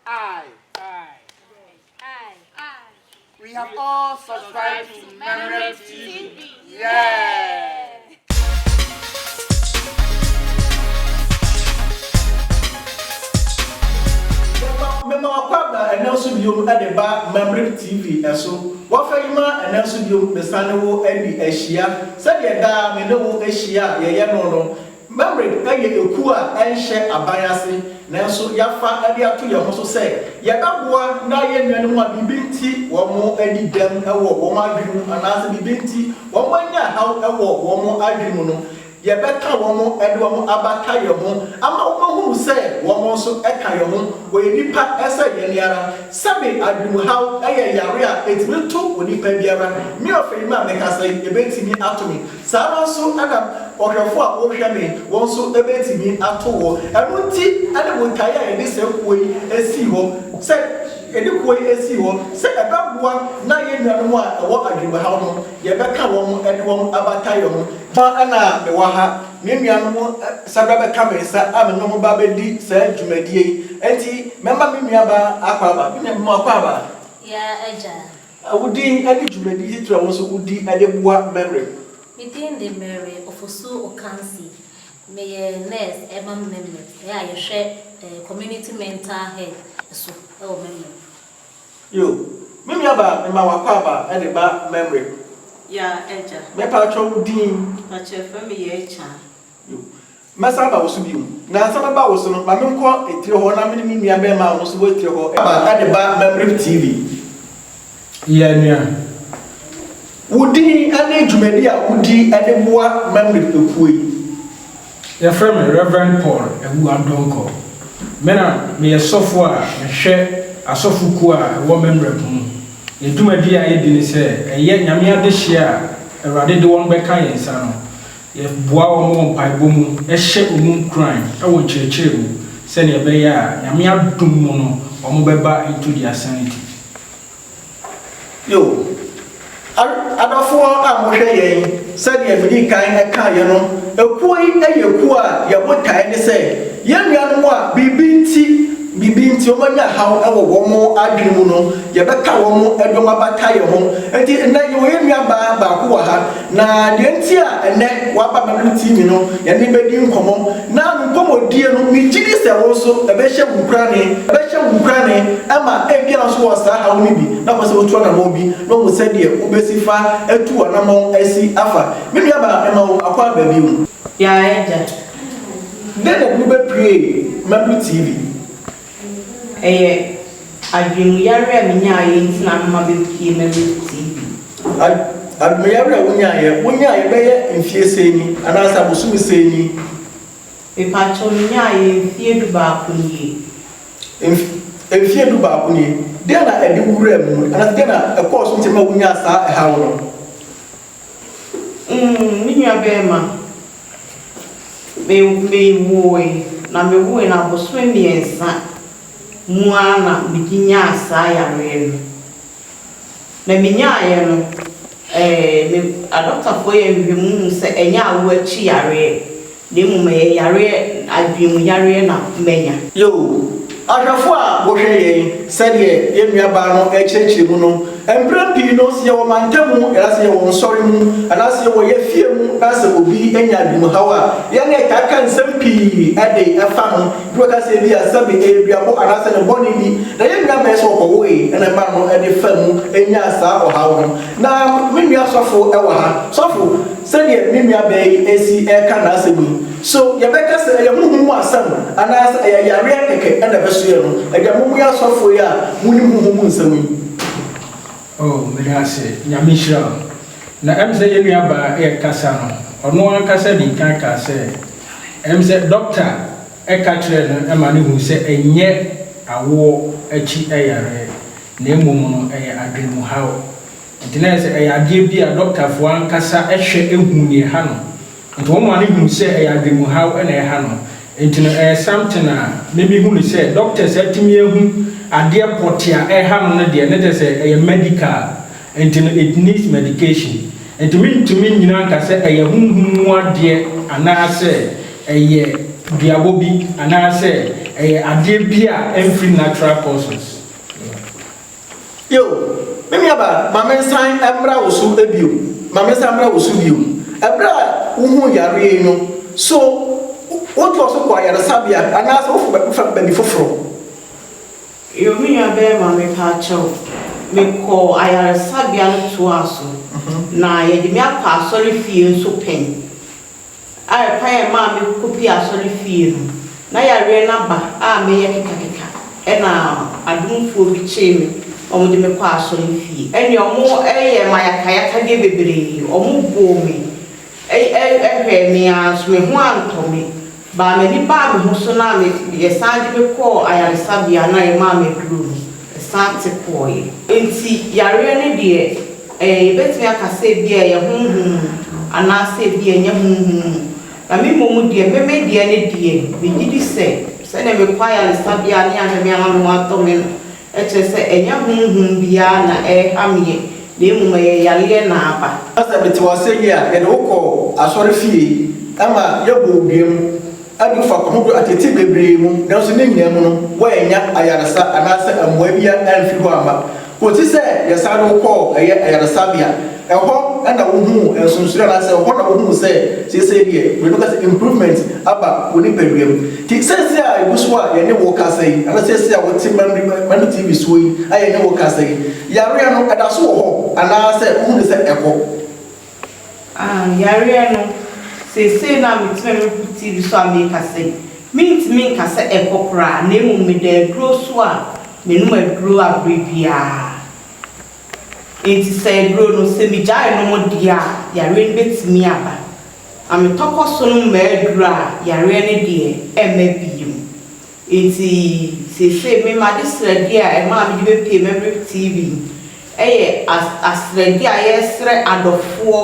I. We have all subscribed to Memory TV. Yeah. mema wakɔabra ɛnɛ nso biom de ba Mamrip TV ɛso wɔfa yi ma ɛnɛ nso biom mesane wo adi ahyia sɛdeɛ daa me ne wo ahyia a yɛyɛ no no Mamre yɛ ekuo a ɛnhyɛ aban ase nanso yɛafa de ato yɛn ho so sɛ yɛbɛboa na yɛn nuanom a biribi nti wɔadi dɛm wɔ wɔn adwene mu anaasɛ biribi nti wɔanya haw wɔ wɔn adwene mu no, yɛbɛka wɔn de wɔn abata yɛn ho ama wɔahunu sɛ wɔn nso ka yɛn ho, wɔyɛ nnipa sɛ yɛn ara. Sɛbe adwenemhaw yɛ yare a ɛtumi to onipa biara, me ɔfɛyi mu a mekasa yi, ɛbɛtumi ato me. Saa ara nso na ɔhwɛfo a wohwɛ me wɔn nso betumi ato wɔ. Ɛno nti ne botae a yɛde saa kuo yi sii hɔ sɛ, yɛde kuo yi sii hɔ sɛ ɛbɛboa na yɛn nuanom a ɛwɔ adwenemhaw no, yɛbɛka wɔn de wɔn abata yɛn ho. Fa na mewɔ ha, me nuanom san ba bɛka me nsa a me ne wɔn ba bɛdi saa dwumadie yi. Enti mɛma me nuabaa Akwaaba. Me nuabaa Akwaaba. Yaa agya. A Wo din ne dwumadi titire a wo nso wodi de boa Memory? Me din de Mary Ofosu Okansi. Meyɛ nurse ma Memory a yɛhwɛ community mental health so wɔ Memory. Yo, Me nuabaa mema w'akwaaba de ba Memory. Ya, Agya. Me paatwɔ wo din? Pakyɛ frɛ me Yaachaa. Yo. Mɛsan aba wo so bio. Nnansa mɛba wo so no, ma menkɔ etire hɔ na me ne me nua bɛɛma a ɔno nso wɔ etire hɔ aba na de ba Mamref TV. Yɛ nea wo din ne dwumadi a wo di de boa Mamref ekuo yi. Yɛfrɛ me Rev. Paul Awuah Donkor. Me na me yɛ sɔfo a me hwɛ asɔfo kuo a ɛwɔ Mamref mu. Yɛ dwumadi a yɛ di ne sɛ ɛyɛ Nyame adehyeɛ a Awurade de wɔn bɛka yɛn nsa no. Yɛboa wɔn wɔ mpaebɔ mu, hyɛ wɔn nkuran wɔ nkyerɛkyerɛ mu sɛdeɛ ɛbɛyɛ a Nyame adom mu no wɔn bɛba into their sanity. Yoh. Adɔfoɔ a mohwɛ yɛn, sɛdeɛ medii kan kaeɛ no, kuo yi yɛ kuo a yɛn botaeɛ ne sɛ yɛn nuanom a biribi nti biribi nti wɔanya haw wɔ wɔn adwene mu no, yɛbɛka wɔn de wɔn abata yɛn ho. Enti nnɛ yɛwɔ yɛn nuabaa baako wɔ ha. Na deɛ nti a ɛnnɛ waba bɛbem TV no yɛne bɛdi nkɔmmɔ na me nkɔmmɔdie no me gye di sɛ wo nso ɛbɛhyɛ wo nkurane, ɛbɛhyɛ wo nkurane ɛma ebia wo nso wɔ saa haw no bi na wopɛ sɛ wotu anamɔn bi na wohu sɛdeɛ wobɛsi fa atu w'anamɔn asi afa me nua baa mema wo akwa ba bio. Yɛn agya. Dɛn na ɛde wo bɛpuee Mabel TV? Ɛyɛ adwenemuyare a minyaeɛ nti na mema bɛpue ma me TV. Ad, adwenemuyare a wonyaeɛ, wonyaeɛ bɛyɛ mfeɛ sei ni, anaasɛ abosome sei ni? Mepakyɛw, menyaeɛ mfeɛ dubaako nie. Mf, mfeɛ dubaako nie. Dɛn na ɛde wo wuraa mu, anaasɛ dɛn na ɛkɔɔ so nti ma wonyaa saa ɛhaw no? Mm, me nuabarima. Me me woe na me woe no abosome mmiɛnsa mu ara na me de nyaa saa yareɛ no. Na me nyaaeɛ no ɛɛ me adɔktafoɔ yɛ nhwehwɛmu hu sɛ ɛnyɛ awoɔ akyi yareɛ na mmom ɛyɛ yareɛ adwene mu yareɛ na manya. Yoo. Ahwɛfo a wɔhwɛ yɛn, sɛdeɛ yɛn nuabaa no rekyerɛkyerɛ mu no, mprɛ pii no, sɛ yɛwɔ mantamu, anaasɛ yɛwɔ nsɔre mu, anaasɛ yɛwɔ yɛn fie mu, na sɛ obi nya adwenemhaw a, yɛne ɛtaa ka nsɛm pii de fa no. Bi bɛka sɛ ebia sɛbe ɛyɛ duabɔ anaasɛ ne bɔne bi na yɛn nua bɛyɛ sɛ ɔkɔwoe na ɛmaa no de fa mu nyaa saa ɔhaw no. Na me nua sɔfo wɔ ha. Sɔfo, sɛdeɛ me nuabaa yi si reka n'asɛm yi, So yɛbɛka sɛ ɛyɛ honhom mu asɛm anaasɛ ɛyɛ yareɛ kɛkɛ na ɛbɛsoɛ no? Ɛdeɛ mommue asɔfoɔ yi a monim honhom mu nsɛm yi. Oh meda ase Nyame nhyira wo. Na ɛm sɛ yɛn nua baa ɛɛkasa no ɔno ankasa dii kan kaa sɛ ɛm sɛ dɔkta ɛka kyerɛɛ no ɛma no huu sɛ ɛnyɛ awoɔ akyi ɛyareɛ na ɛmom no ɛyɛ adwene mu haw. Nti na ɛyɛ sɛ ɛyɛ adeɛ bi a dɔktafoɔ ankasa ɛhwɛ ɛhu neɛ ɛha no. Enti wɔn maa no hunu sɛ ɛyɛ adwenemuhaw na ɛha no. Enti no ɛyɛ something a me me hu no sɛ doctors atumi ahu adeɛ pɔtee a ɛha no no deɛ ne kyerɛ sɛ ɛyɛ medical. Enti no it needs medication. Enti me ntumi nnyina nka sɛ ɛyɛ honhom mu adeɛ anaa sɛ ɛyɛ duabɔ bi anaa sɛ ɛyɛ adeɛ bi a ɛmfiri natural causes. Yiw, me nuabaa, ma mensan mmra wo so bio, ma mensan mmra wo so bio. Bere a wuhuu yare yi no, so wotoa so kɔ ayaresabea anaasɛ wofa baabi foforo? Yiw, me nuabarima, mepɛ akyɛ wo, mekɔɔ ayaresabea no toaa so, na wɔde me akɔ asɔrefie nso pɛn. a ɛkwan a ɛmaa me kɔpie asɔre fie no, na yareɛ no aba a meyɛ kekakeka, ɛna adomfoɔ bi kyee me na wɔde me kɔɔ asɔre fie, ɛne wɔn yɛɛ me ayakayakadeɛ bebree, wɔn boo me, hwɛɛ me ara nso me ho antɔ me, baa m'ani baa me ho so na yɛsan de me kɔɔ ayaresabea na yɛmaa me aduro no, ɛsan te kɔeɛ. Nti yareɛ no deɛ. Ɛɛ, yɛbɛtumi aka sɛ ebia ɛyɛ honhom mu anaasɛ ebia ɛnyɛ honhom mu, na me mmom deɛ, me me deɛ no deɛ, megye di sɛ, sɛdeɛ mekɔ ayaresabea ne ahwɛ me ama me ho atɔ me no, ɛkyerɛ sɛ ɛnyɛ honhom biara na ɛreha meɛ, na mmom ɛyɛ yareɛ na aba. Sɛ mete w'asɛm yi a, yɛde wo kɔ asɔrefie ma yɛbɔ wo dua mu. adu fapem horow atete bebree mu, nanso ne nyinaa mu no, woannya ayaresa anaasɛ mmuae biara amfi hɔ amma. Kosi sɛ yɛsan de wo kɔɔ ɛyɛ ayaresabea. Ɛhɔ na wohuu nsonsonoe anaasɛ ɛhɔ na wohuu sɛ seesei deɛ, Buroni no ka sɛ, improvement aba wo nipaduam. Nti seesei a egu so a yɛne wo rekasa yi, anaasɛ seesei a wote Mambi TV soɔ yi a yɛne wo rekasa yi, yareɛ no ɛda so wɔ hɔ anaasɛ wohu no sɛ ɛkɔ? Ah, yareɛ no, seesei no a metumi a mepo TV so a meka sɛ, mentumi nka sɛ ɛkɔ koraa, na mmom meda aduro so a menom aduro a berɛ biara. Enti sɛ aduro no, sɛ megyae nom deɛ a, yareɛ no bɛtumi aba. Na metɔ kɔ so nom m'aduro a, yareɛ no deɛ ɛmma bio. Enti seesei me m'ade srɛdeɛ a ɛma a mede bɛpue Maverick TV yɛ as asrɛdeɛ a yɛresrɛ adɔfoɔ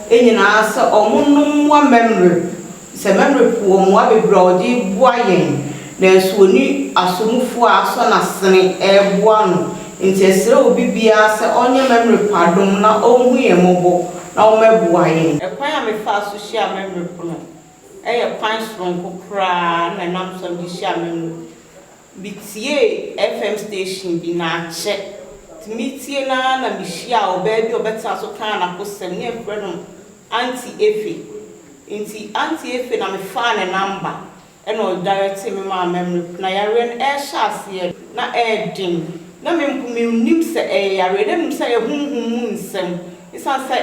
nyinaa sɛ wɔnnom mmoa Maverick. Sɛ Maverick wɔ mmoa bebree a ɔde reboa yɛn nanso ɔnni asomufoɔ a asɔ n'asene reboa no. Enti yɛsrɛ obi biara sɛ ɔnyɛ Maverick adom na ɔnhu yɛn mmɔbɔ na wɔmmɛboa yɛn. Ɛkwan a mefaa so hyiaa Maverick no. Ɛyɛ kwan soronko koraa na ɛnam so a mede hyia me mma. Mitiee FM station bi, na akyɛ nti meretie no ara na mihyiaa ɔbaa bi a ɔbɛtenaa so kaa n'akosɛm, na yɛfrɛ no Aunty Efe. Enti Aunty Efe na mefaa ne namba na ɔdaɛrɛtee me maa memory. Na yareɛ no ɛrehyɛ aseɛ no, na ɛɛden. Na me mpo mennim sɛ ɛyɛ yareɛ, na mmom sɛ ɛyɛ honhom mu nsɛm, esiane sɛ.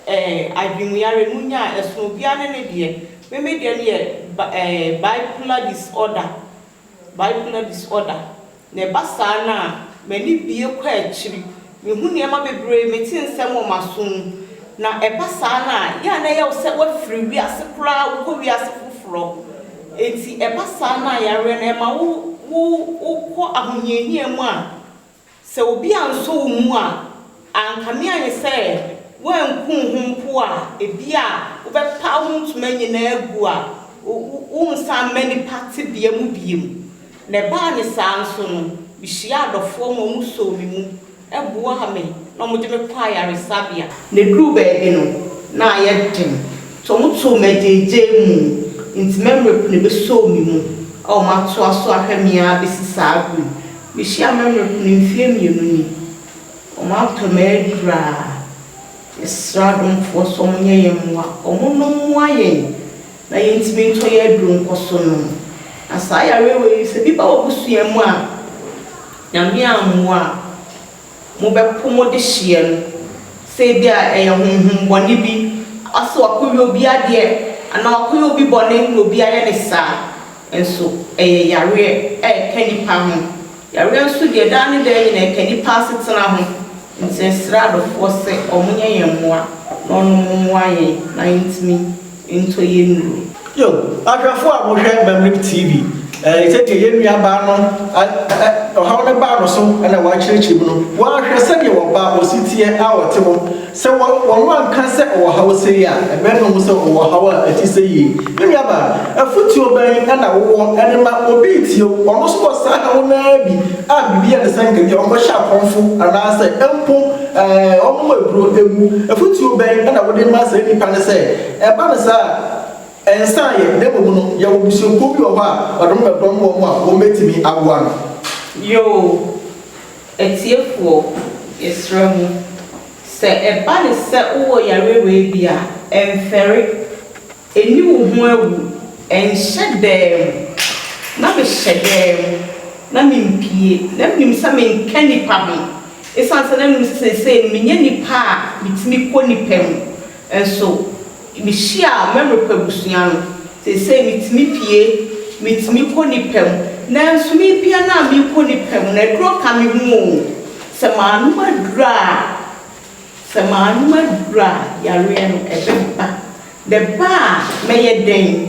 eh, adwenmuyare, munya a, ɛsono obiara ne ne deɛ. Me me deɛ no yɛ ba eh, bipolar disorder, bipolar disorder, na ɛba saa no a, m'ani bue kɔ akyiri, mehu nneɛma bebree, mete nsɛm wɔ m'aso mu, na ɛba saa no a, yɛ a na ɛyɛ wo sɛ woafiri wiase koraa, wokɔ wiase foforɔ. Enti ɛba saa no a, yareɛ no, ɛma wo, wo, wokɔ ahohiahia mu a, Sɛ obi ansɔ wo mu a, ankame ayɛ sɛ woanku wo ho mpo a, ebia wobɛpaw wo ntoma nyinaa agu a worensan mma nnipa tebea mu bio. Na ɛbaa no saa nso no, mihyiaa adɔfoɔ ma wɔsɔɔ me mu boaa me na wɔde me kɔɔ ayaresabea. Na eduruu baabi no, na ayɛ den, nti wɔtoo me agyaagyaamu, nti m'ammere po na ebesɔɔ me mu a wɔatoa so ahwɛ me ara besi saa bere yi. Mehyia mɛmrɛ kunu mfeɛ mmienu ni ɔmo atɔ me adura yɛsrɛ adomfoɔ sɛ ɔmo nyɛ yɛn mmoa ɔmo nom mmoa yɛn na yɛn ntumi ntɔ yɛn aduro nkɔ so nom na saa yareɛ wei sɛ bi ba w'abusua mu a nyame ammoa a. Mobɛpo mo dehyeɛ no, sɛ ebia ɛyɛ honhom bɔne bi, ɔse wakɔyɛ obi adeɛ, anaa wakɔyɛ obi bɔne na obi ayɛ no saa, nso ɛyɛ yareɛ a ɛka nipa ho. Yareɛ nso deɛ daa ne daa nyinaa ɛka nipa asetena ho, nti yɛsrɛ adɔfoɔ sɛ wɔnyɛ yɛn mmoa na wɔnom mmoa yɛn na yɛntumi. ntɔ yɛ nnuro. Yo, ahwɛfo a mo hwɛ Mamlib TV, eh, sɛdeɛ yɛn nua baa no a eh, ɔhaw no baa no so na wɔakyerɛkyerɛ mu no, wɔanhwɛ sɛdeɛ ɔbaa a ɔsi teɛ a ɔte hɔ, sɛ wɔ, wɔn anka sɛ ɔwɔ haw sei a, ɛbɛn no ho sɛ ɔwɔ ɔhaw a ɛte sɛ yei. Me nua baa, afutuo bɛn na wowɔ de ma obi retie wo, ɔno nso wɔ saa haw no ara bi a biribi yɛ no sɛ nka bi a ɔnkɔhyɛ akɔmfo anaasɛ mpo, Wɔn mu aduro wu. Afotuo bɛn na wode ma saa nnipa no sɛ, ɛba no saa a, nsa ayɛ, na mmom no, yɛwɔ abusuakuo bi wɔ hɔ a wɔde wɔn bɛdɔm wɔn a wɔbɛtumi aboa no? Yoo, atiefoɔ, yɛsrɛ mo, sɛ ɛba no sɛ wowɔ yareɛ wei bi a, mfɛre. Nni wo ho awu, ɛnhyɛ daa mu. Na mehyɛ daa mu, na mempue. Na minim sɛ menka nnipa ho, esiane sɛ na minim sɛ seesei no menyɛ nipa a mitumi kɔ nnipa mu. Nanso mihyiaa m'America abusua no. Seesei mitumi pue, mitumi kɔ nnipa mu. Nanso mepue no a mekɔ nnipa mu no, aduro ka me ho oo. Sɛ manom aduro a, sɛ manom aduro a, yareɛ no ɛbɛba. The ba a mɛyɛ dɛn?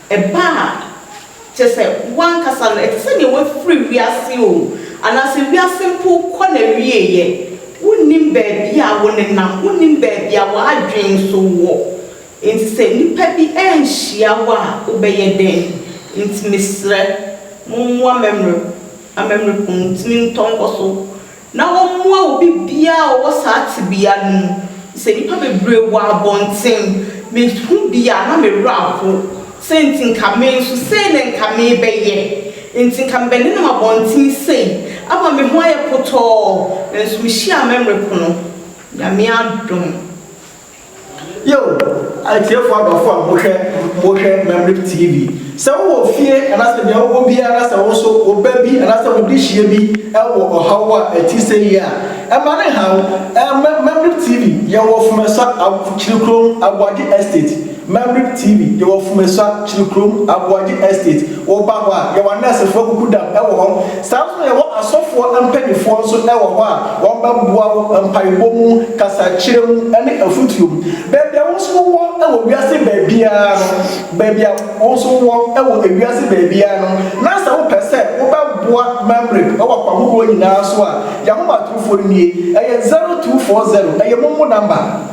Ɛba a, kyerɛ sɛ w'ankasa no, ɛte sɛ nea woafiri wiase o, anaasɛ wiase mpo kɔ n'awieeɛ. Wonnim baabi a wonenam, wonnim baabi a w'adwene nso wɔ. Enti sɛ nnipa bi anhyia wo a, wobɛyɛ dɛn? Enti mesrɛ, mommoa m'amammerɛ, m'amammerɛ kunu ntumi ntɔ nkɔso. na wɔmmoa obi biara a ɔwɔ saa tebea no mu. Sɛ nnipa bebree wɔ abɔnten, mehu bi a, na me werɛ ahow. Sɛ enti nka me nso sei na nka merebɛyɛ. Enti nka mebɛnenam abɔnten sei, ama me ho ayɛ potɔɔ, nanso mehyia a mɛmmerɛ pono. Nyame adom. Yiw, atiefo adɔfo a mohwɛ mohwɛ Mamlep TV, sɛ wowɔ fie anaasɛ nea wowɔ biara na sɛ wo nso wo ba bi anaasɛ wo dehyeɛ bi wɔ ɔhaw a ɛte sɛyi a, mma no nha wo. Mɛ Mamlep TV, yɛwɔ Fumeswa ab Kyirikurom Aboagye Estate, Mamlep TV, yɛwɔ Fumeswa Kyirikurom Aboagye Estate, woba hɔ a, yɛwɔ anɛɛsefo akuku dam wɔ hɔ, Saa ara na yɛwɔ asɔfoɔ mpanimfoɔ nso wɔ hɔ a wɔbɛboa wo mpaebɔ mu, kasakyerɛ mu, ne afotuo mu. Baabi a wo nso wowɔ wɔ wiase baabiara no, baabi a wo nso wowɔ wɔ ewiase baabiara no, na sɛ wopɛ sɛ wobɛboa Mamrep wɔ akwan horoɔ nyinaa so a, yɛn ahomatorofoɔ no nie, ɛyɛ 0240, ɛyɛ momo namba.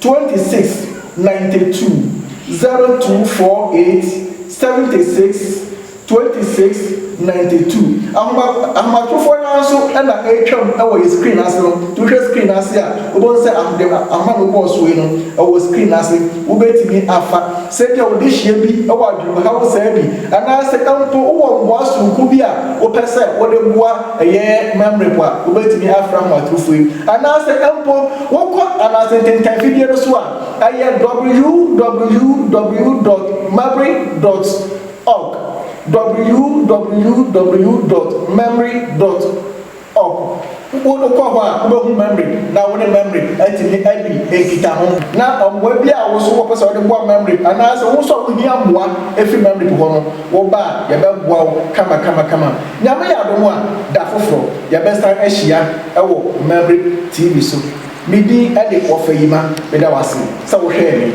26 92 0248 76 26 92 Ahoma ahomatrofoɔ no ara nso na ɛretwam wɔ yɛn screen no ase no. Nti wohwɛ screen no ase a, wobɛhu sɛ ahoma ahoma na wobɔɔ so yi no, ɛwɔ screen no ase. Wobɛtumi afa. Sɛnea wode hyia bi wɔ adwenemhaw saa bi, anaasɛ mpo wowɔ mmoa soronko bi a wopɛ sɛ wode boa, ɛyɛ memory po a, wubetumi afrɛ ahomatorofo yi. Anaasɛ mpo wokɔ anaase ntentan fidie no so a, ɛyɛ www dot memory dot org, www dot memory dot. Ɔk, wo kɔ hɔ a, wobɛhu Mamre, na wo ne Mamre atumi adi nkitaho. Na mmoa biara a wo nso wopɛ sɛ wode boa Mamre, anaasɛ wo nso a wuhia mmoa fi Mamre po hɔ no, woba a, yɛbɛboa wo kamakamakama. Nyame yɛ adom a, da foforɔ, yɛbɛsan ahyia wɔ Mamre TV so. Me din de Wɔfayima. Meda wo ase sɛ wohwɛɛ me.